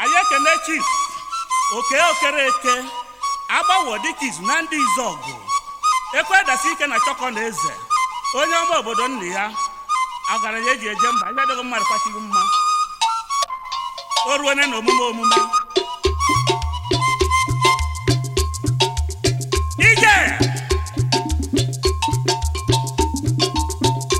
anyị ekene chief okey okereke agbawo dike izu na ndizuọgụ ekwe dasi ike na chọkọneze onye ọma obodo nna ya ọgaranya eji eje mba ihe adịghị mmadụ kwachiri mma o ruone na omume omume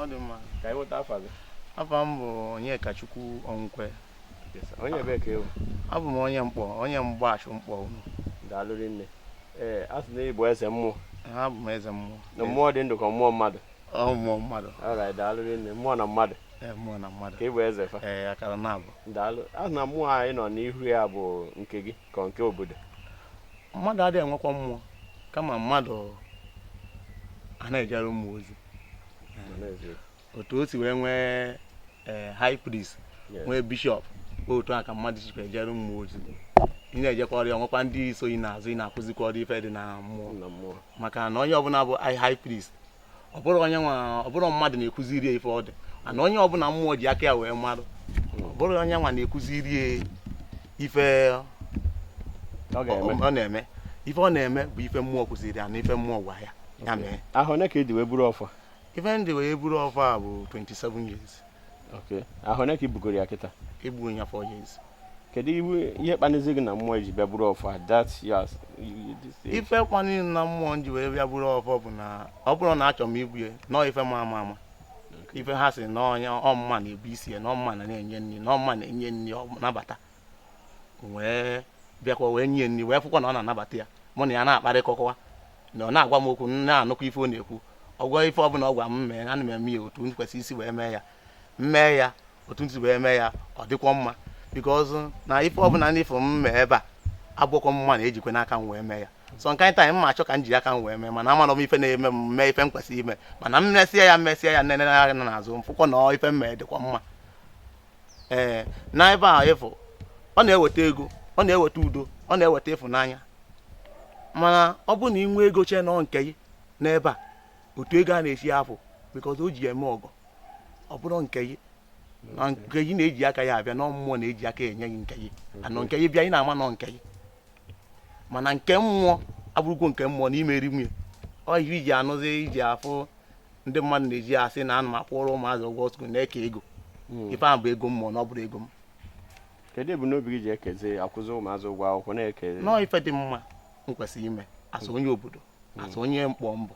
ọ dị mma ka anyị nweta afa gị afa m bụ onyekachukwu ọnwụkwe onye ebee ka ị wụ abụ m onye nkpọ onye mgbachụ nkpọ ụnọ daalụ rinne ee a sị na ị bụ eze mmụọ abụ m eze mmụọ na mmụọ dị ndụ ka mmụọ mmadụ ọ mmụọ mmadụ alright daalụ rinne mmụọ na mmadụ ee mmụọ na mmadụ ka ị bụ eze fa ee akara na abụ daalụ a sị na mmụọ anyị nọ n'ihu ya bụ nke gị ka nke obodo mmadụ adịghị enwekwa mmụọ kama mmadụ a na-ejere mmụọ ozi otu o si wee nwee eh, high priest nwee bishọp otu a ka mmadụ sikwa ejere mmụọ ozi ị na-ejekwara ya nwekwa ndị so ị n'azụ ị na-akụzikwara ife dị na mmụọ maka na onye ọbụla bụ high priest ọ bụrọ onye nwa ọ bụrọ mmadụ na-ekụziri ya ife ọ dị mana onye ọbụla mmụọ ji aka ya wee marụ ọ bụrọ onye nwa na-ekụziri ya ife ọ na-eme ife ọ na-eme bụ ife mmụọ kụziri ya na ife mmụọ gwa ya ya mee Ahọ one ka ị dị wee buru ọfọ a? ife m dị wee buru ọfọ a bụ 27 years Okay. ahọ one ka i bugoro ya kịta ebugo m ya four years kedu iwe- ihe kpanizi gị na mmụọ iji bịa buru ọfọ a that years ife kpanili na mmụọ m ji wee bịa buru ọfọ bụ na ọ bụrọ na achọrọ m ibu ya na ọ ife ma ama ama ife ha sị na onye ọmụma na-ebu isi ya na ọmụma na na-enye nri na ọmụma na-enye nri ọ nabata wee bịakwa wee nye nri wee fụkwa na ọ na-anabata ya mụ na ya na-akparịkọkwa na ọ na-agwa m okwu m na-anụkwa ife ọ na-ekwu ọgwọ ife ọbụla ọ gwa m mee ana m eme ya otu m kwesịrị isi wee mee ya m mee ya otu m si wee mee ya ọ dịkwa mma because na ife ọbụla na ife m mee ebe a abụkwọ mụwa na-ejikwa n'aka m wee mee ya so nke anyị taa m achọ ka m ji aka m wee mee mana amarọ m ife na-eme m mee ife m kwesịrị ime mana m mesịa ya mesịa ya nene anya n'azụ m fụkwa na ọ ife m mee dịkwa mma ee eh, na ebe a ịfụ ọ na-eweta ego ọ na-eweta udo ọ na-eweta ịfụnanya mana ọ bụrụ na ị nwee ego chee na ọ nke gị n'ebe a otu ego a na-esi afụ because o ji eme ọgọ ọ bụrọ nke gị na nke gị na-eji aka ya abịa na mmụọ na-eji aka enye gị nke gị and nke gị bịa ị na-ama na ọ nke gị mana nke mmụọ abụrụkwa nke mmụọ na imeri nwunye ọ ihe iji anụzi iji afụ ndị mmadụ na-eji asị na ana m akwụrụ ụmụazị ụgwọ skuul na-eke ego hmm. ife ahụ bụ ego mmụọ na ọ bụrọ ego m kedu ebumnobi gị ji ekezi akwụzi ụmụazị ụgwọ akwụkwọ na-eke na ọ ife dị mma m kwesịrị ime as onye obodo hmm. as onye nkpọ m bụ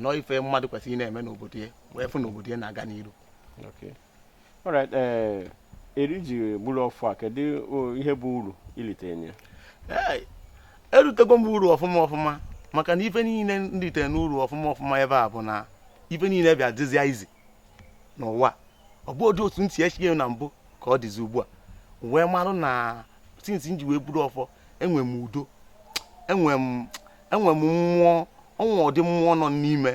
na ọ ife mmadụ kwesịrị na-eme n'obodo ya wee fụ na obodo ya na-aga n'iru Alright, ee, eri i ji buru ọfọ a kedu ihe bụ uru i litere na ya Ee, erutego m uru ọfụma ọfụma maka na ife niile m ritere n'uru ọfụma ọfụma ebe a bụ na ife niile bịa dịzịa izi n'ụwa ọ bụrọdụ otu m si eche na mbụ ka ọ dịzi ugbu a wee marụ na since m ji wee buru ọfọ enwe m udo enwe m enwe m mmụọ o nwe ụdị mmụọ nọ n'ime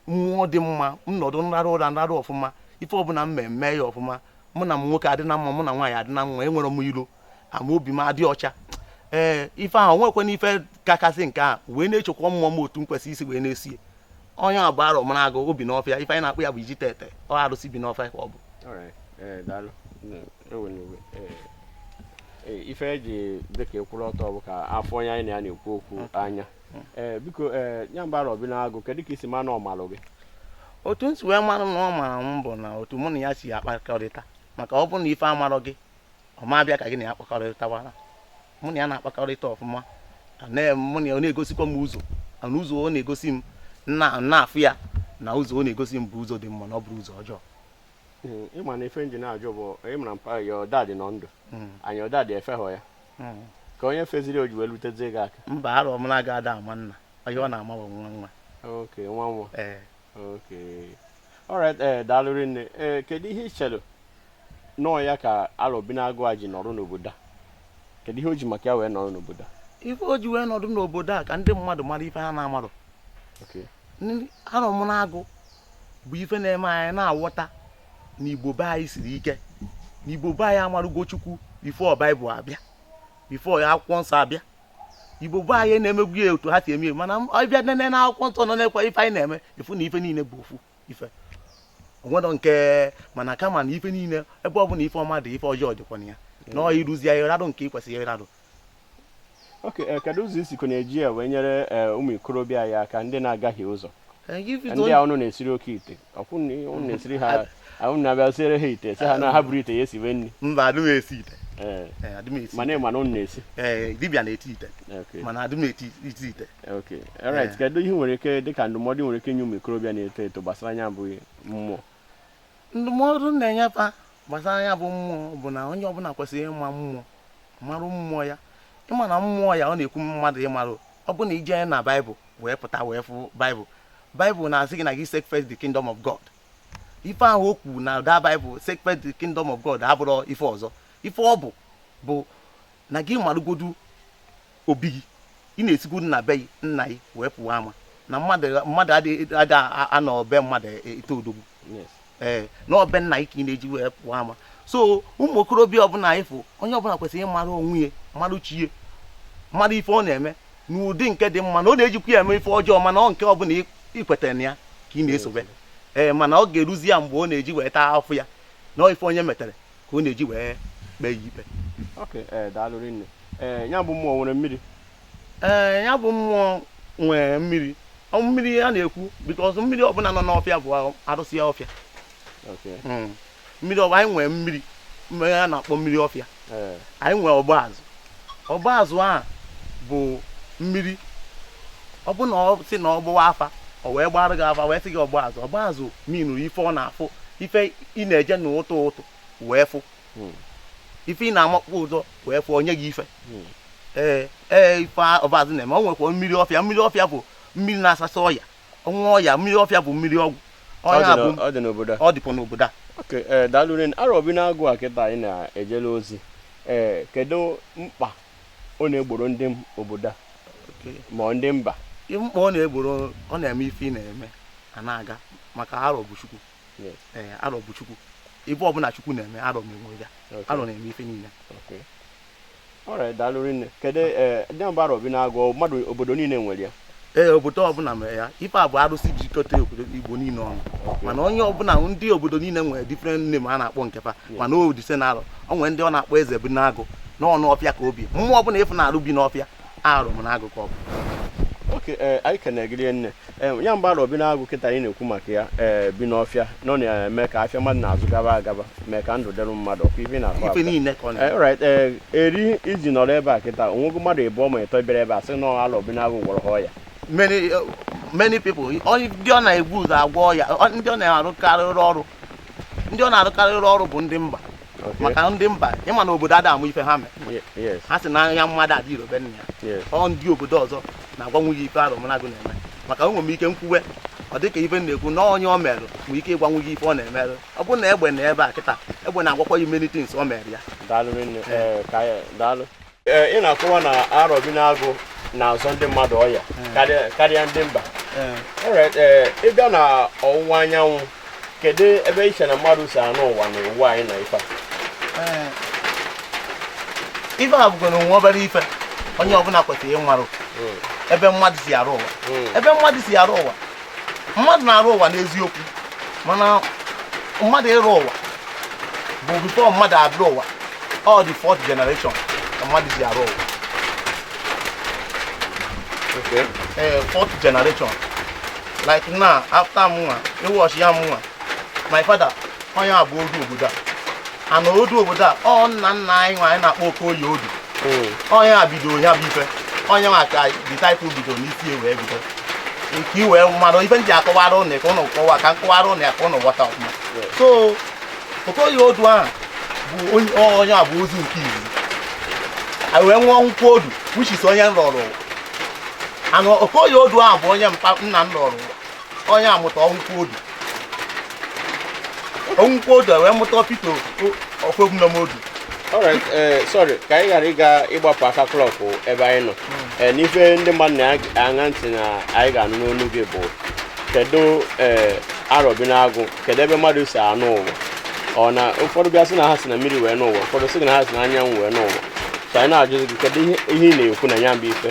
mmụọ dị mma m nọdụ m rarụ ụra m rarụ ọfụma ife ọbụla m mee mee ya ọfụma mụ na nwoke adị na mma mụ na nwaanyị adị na mma enwerọ m ilo ama obi m adị ọcha ee ife ahụ o nwekwanụ ife kakasị nke a wee na-echekwa mmụọ m otu m kwesịrị isi wee na-esi onye a bụ arọ mara agụ obi n'ọfịa ife anyị na-akpọ ya bụ iji tete ọ arụsị bi n'ọfịa ka ọ bụ Alright, eh, daalụ. Mm, ewena iwe. Eh, eh, ife e ji dịka ekwuru ọtọ bụ ka a fụ onye anyị na ya na-ekwu okwu anya Eh, biko eh, ya bụ arọ bi n'agụ kedu ka i si ma na ọ malụ gị otu m si wee mara na ọ mara m bụ na otu mụ na ya si akpakọrịta maka ọ bụrụ na ife amarọ gị ọ ma abịa ka gị na ya kpakọrịtawara mụ na ya na-akpakọrịta ọfụma mụ na ya ọ na-egosikwa m ụzọ na ụzọ ọ na-egosi m na-afụ ya na ụzọ ọ na-egosi m bụ ụzọ dị mma na ọ bụrọ ụzọ ọjọọ hmm, ị ma na ife m ji na-ajụ bụ ịmara mpa ya ọda dị nọ ndụ hmm. anyị ọda dị efehọ ya hmm. ka onye feziri o ji wee lutezie gị aka mba arọ bi n'agụ ada ama nna onye ọ na-ama bụ nwa nwa nwa nwa Okay. All right, eh, daalụ rinne. Eh, kedu ihe i chere nọọ ya ka Arọ bi n'agụ a ji nọrọ n'obodo a? Kedu ihe o ji maka ya wee nọrọ n'obodo a? ife o ji wee nọdụ n'obodo a ka ndị mmadụ mara ife ha na-amarọ Okay. Ndị- arọ bi n'agụ bụ ife na-eme anyị na-aghọta na igbo be anyị siri ike na igbo be anyị amarụgo chukwu before baịbụl abịa before akwụkwọ nsọ abịa igbo be anyị na-emebu ya otu ha si eme mana ị bịa nene na akwụkwọ nsọ nọ na-ekwu ife anyị na-eme ị fụ na ife niile bụ ofu ife o nwedọ nke mana kama na ife niile ebe ọ bụla ife ọma dị ife ọjọọ dịkwa na ya na ọ ịrụzi ya ịradụ nke ị kwesịrị ịradụ okay eh, kedu ụzọ i sikọ na-eji ya wee nyere eh, ụmụ ikorobịa aka ndị na-agahie ụzọ eh, ndị a ụnụ na-esiri oke ite mba adị m esi ite Eh. Eh, mana ị ma na ụnụ na-esi eh, dibịa na-esi ite mana adị m esi ite alright kedu ihe i nwere ike dịka ndụmọdụ i nwere ike inye ụmụ ikorobịa na-eto eto gbasara nya bụ mmụọ ndụmọdụ m na-enye fa gbasara nya bụ mmụọ bụ na onye ọbụla kwesịrị ịma mmụọ marụ mmụọ ya ịma na mmụọ ya ọ na-ekwu mmadụ ịmarụ ọ bụ na i je na baịbụl wee pụta wee fụ baịbụl baịbụl na-asị gị na gị seek first the kingdom of god ife ahụ o kwuru na the baịbụl seek first the kingdom of god abụrọ ife ọzọ ife ọ bụ bụ na gị marụgodu obi gị ị na-esigodu na be gị nna gị wee pụwa ama na mmadụ mmadụ adịghị ada anọ be mmadụ ete odogwu yes ee na ọ be nna gị ka ị na-eji wee pụọ ama so ụmụ okorobịa ọbụla ị fụ onye ọbụla kwesịrị ịmara onwe ya mara chi ya mara ife ọ na-eme n'ụdị nke dị mma na ọ na-ejikwa ya eme ife ọjọọ mana ọ nke ọbụla ị- ị kwetara na ya ka ị na-esobe ee mana ọ ga-eruzi ya mgbe ọ na-eji wee taa afụfụ ya na ọ ife onye metere ka ọ na-eji wee kpee ya ikpe Okay, eh, daalụ rinne. Eh, ya bụ mmụọ nwere mmiri. ee ya bụ mmụọ nwee mmiri ọ mmiri a na-ekwu because mmiri ọbụla nọ n'ọfịa bụ arụsị ya ọfịa Okay. Mm. mmiri ọbụ anyị nwee mmiri mmiri a na-akpọ mmiri ọfịa Ee. anyị nwee ọgba azụ ọgba azụ a bụ mmiri ọ bụ na ọ sị na ọ gbawa afa o wee gbara gị afa wee sị gị ọgba azụ ọgba azụ meanụrụ ife ọ na-afụ ife ị na-eje n'ụtụtụ wee fụ hmm. ife ị na-amakpọ ụzọ wee fụọ onwe gị ife hmm. ee ee ife ọgba azụ na-eme o nwekwa mmiri ọfịa mmiri ọfịa bụ mmiri na-asasa ọya ọnwa ọya mmiri ọfịa bụ mmiri ọgwụ ọ dị n'obodo ọ dịkwa n'obodo a eh, daalụ rinne arọ bi n'agụ a kịta ị na-ejele ozi ee eh, kedu mkpa ọ na-egboro ndị obodo a ma ndị mba mkpa ọ na-egboro ọ na-eme ife ị na-eme a na-aga maka arọ bụ chukwu ee arọ bụ chukwu ife ọbụla chukwu na-eme arọ na-eme ya arọ na-eme ife niile daalụ rinne kedu ndị mba arọ bi n'agụ mmadụ obodo niile nwere ya ee obodo ọbụla nwere ya ife a bụ arụsị jikọta obodo igbo niile ọnụ mana onye ọbụla ndị obodo niile nwere different name a na-akpọ nke fa mana all the same na arọ o nwere ndị ọ na-akpọ eze bi n'agụ na ọ n'ọfịa ka o bi mmụọ ọbụla ị fụ na-arụ bi n'ọfịa arọ bi n'agụ ka ọ bụ okay eh, anyị kenee gị rinne eh, ya bụ arọ bi n'agụ kịta anyị na-ekwu maka ya eh, bi n'ọfịa na ọ na-eme ka afịa mmadụ na-azụ gaba agaba mee ka ndụ dịrị mmadụ ọkwa ife ị na-akọ ife niile ka ọ na-eme right eri i ji nọrọ ebe a kịta o nwego mmadụ ịbụọ ma ịtọ bịara ebe a sị na arọ bi n'agụ gwọrọ ha ọya many uh, many people ndị ọ na-ebu ụzọ agwọ ọya ndị ọ na-arụkarịrị ọrụ ndị ọ na-arụkarịrị ọrụ bụ ndị mba maka ndị mba ị ma na obodo ada ama ife ha nwee ha sị na onye amụma ada adị ire be nna ya ọ ndị obodo ọzọ na-agwanwu gị ife arọ bi n'agụ na-eme maka enwere m ike m kwuwe ọ dịka ife m na-ekwu na onye o meru nwere ike ịgwanwu gị ife ọ na-emerụ ọ bụrụ na egbe nọ ebe a kịta egbe na-agwakwa gị many things o mere ya daalụ ị na-akọwa na arọ bi n'agụ na-azọ ndị mmadụ ọya karịa ndị mba ị bịa na ọwụwa anyanwụ kedu ebe i che na mmadụ si anọ ụwa na ụwa anyị na ife ife a bụgoro nwa obere ife onye ọbụla kwesịrị ịmarụ hmm. ebe mmadụ si alọ ụwa hmm. ebe mmadụ si alọ ụwa mmadụ na-arọ ụwa n'eziokwu mana mmadụ ịrọ ụwa bụ before mmadụ abịa ụwa ọ the fourth generation ka mmadụ ji arọ ụwa ee eh, fourth generation like now after mụnwa ịwọchi ya mụnwa my father onye a bụ odu obodo a ana odu obodo a ọ nna nna anyị nwa anyị na-akpọ okoye odu onye a bidoro ya bụ ife onye nwa ka the title bidoro n'isi ya wee bido nke iwe mmadụ ife ndị akọwara ụnụ ka ụnụ kọwa ka m kọwara ụnụ ya ka ụnụ ghọta ọfụma so okoye odu ahụ bụ onye ọ- onye a bụ ọzọ nke izizi a wee nwụọ nkwụ odu which is onye m rọrọ ụwa anụ okoye odu ahụ bụ onye mpa nna m rọrọ ụwa onye amụta ọnwụkwa odu ọnwụkwa odu wee mụta peter ọfegwu na modu alright eh, sorry ka anyị ghara ịga ịgbapụ aka klọkụ ebe anyị nọ hmm. eh, n'ife ndị mmadụ na-aṅa ntị na anyị ga-anụ n'ọnụ gị bụ kedu eh, arọbinagụ kedu ebe mmadụ si anọ ụwa ọ na ụfọdụ bịa sị na ha si na mmiri wee nọọ ụwa ụfọdụ sị na ha si na anyanwụ wee nọọ ụwa so anyị na-ajụzi gị kedu ihe ị na-ekwu na ya bụ ife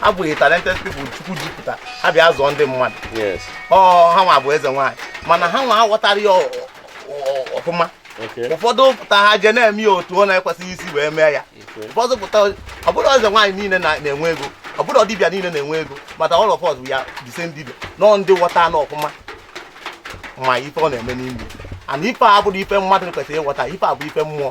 ha bụ talented people chukwu zipụta ha bịa zọọ ndị mmadụ yes ọ ha nwa bụ eze nwaanyị mana ha nwa aghọtarọ ya ọ- ọ- ọfụma okay ụfọdụ pụta ha je na-eme ya otu ọ na-ekwesịghị isi wee mee ya okay ụfọdụ pụta ọ bụrọ eze nwaanyị niile na- na-enwe ego ọ bụrọ dibịa niile na-enwe ego mana all of us bụ ya the same dibịa nọọ ndị ghọta na ọfụma ma ife ọ na-eme n'ime and ife a bụrụ ife mmadụ kwesịrị ịghọta ife a bụ ife mmụọ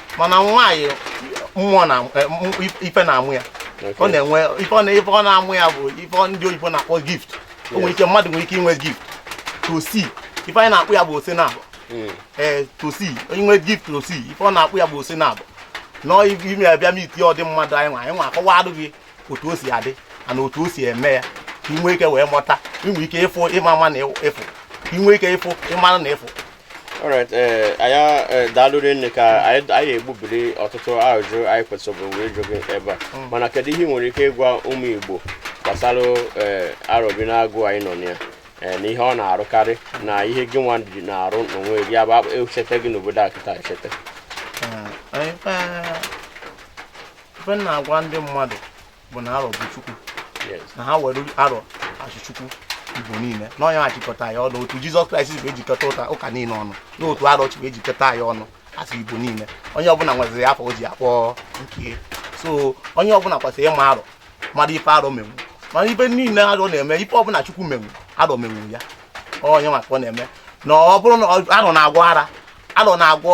mana nwaanyị mmụọ na eh, ife na-amụ ya ọ na-enwe ife ọ na-amụ ya bụ ife ndị oyibo na-akpọ gift o nwere ike mmadụ nwere ike inwe gift to see ife anyị na-akpọ ya bụ ose naabọ hmm. ee eh, to see inwe gift to see ife ọ na-akpọ ya bụ ose naabọ nọọ ime ya bịa meet ụdị mmadụ anyị nwa anyị nwa akọwadụ gị otu o si adị and otu o si eme ya ka i nwee ike wee mụta inwe ike ịfụ ịma ama na ịfụ inwe ike ịfụ ị mara na ị fụ alright eh, anyị eh, daalụ rinne ka anyị anyị egbubiri ọtụtụ ajụjụ anyị kwesịrị wee jụ gị ebe a Mm. mana kedu ihe ị nwere ike ịgwa ụmụ igbo gbasara eh, arọbinagụ anyị nọ na ya eh, na ihe ọ na-arụkarị na ihe gị nwa ji na-arụ n'onwe gị ya bụ akpa- echete gị n'obodo a kịta echete Ee, ife ife m na-agwa ndị mmadụ bụ na arọ bụ chukwu na ha were arọ achọ chukwu igbo niile na ọ nya achịkọta ya ọnụ otu jizọs kraịst bụ ejikọta ụta ụka niile ọnụ na otu arọ chukwu ejikọta ya ọnụ asị igbo niile onye ọbụla nweziri afa o ji akpọ nke so onye ọbụla kwesịrị ịma arọ mara ife arọ menwu mana ife niile arọ na-eme ife ọbụla chukwu menwu arọ menwu ya onye ma ka ọ na-eme na ọ bụrụ na arọ na-agwọ ara arọ na-agwọ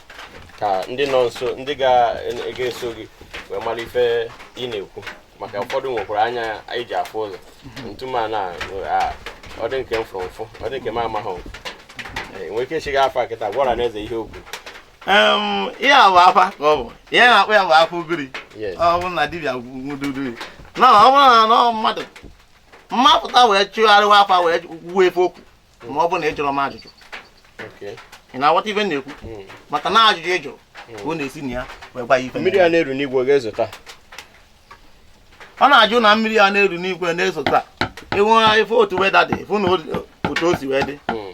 ka ndị nọ nso ndị ga-eso gị wee mara ife ị na-ekwu maka ụfọdụ nwekwara anya anyị ji afụ ụzọ ntụ mana ọ dị nke m fụrụ mfụ ọ dị nke m amaghị e, nwere ike echighị afa kịta gwa ọra na eziokwu ihe a bụ afa ka ọ bụ ihe a na-akpọ ya bụ afa ugiri ọ bụ na dibịa gwududu na ọ bụrụ na mmadụ mapụta wee chụgharịwa afa wee kwuo ife okwu ma ọ bụ na ị jụrụ m ajụjụ ị na-aghọta ife m na-ekwu hmm. maka na ajụjụ ị jụrụ hmm. ka ọ na-esi na ya wee gwa ya ife mmiri a na-eru n'igwe ga-ezota ọ na-ajụ na mmiri a na-eru n'igwe na-ezota i nee ife otu weather dị fụ na otu o si wee dị hmm.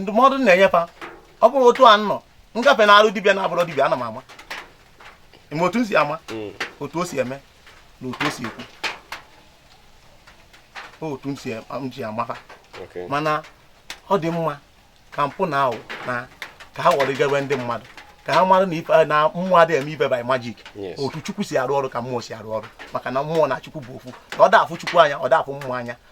ndụmọdụ na-enye fa ọ bụrụ otu a nọ nga fa na-arụ dibịa na-abụrụ dibịa ana m ama eme otu m si ama hmm. otu o si eme na otu o si ekwu otu m si ama fa mana ọ dị mma ka mpụ na awụ na ka ha ghọrọ igebe ndị mmadụ ka ha mara na ife na mmụọ adịghị eme ife by magic otu chukwu si arụ ọrụ ka mmụọ si arụ ọrụ maka na mmụọ na chukwu bụ ofu na ọ da afụ chukwu anya ọ da afụ mmụọ anya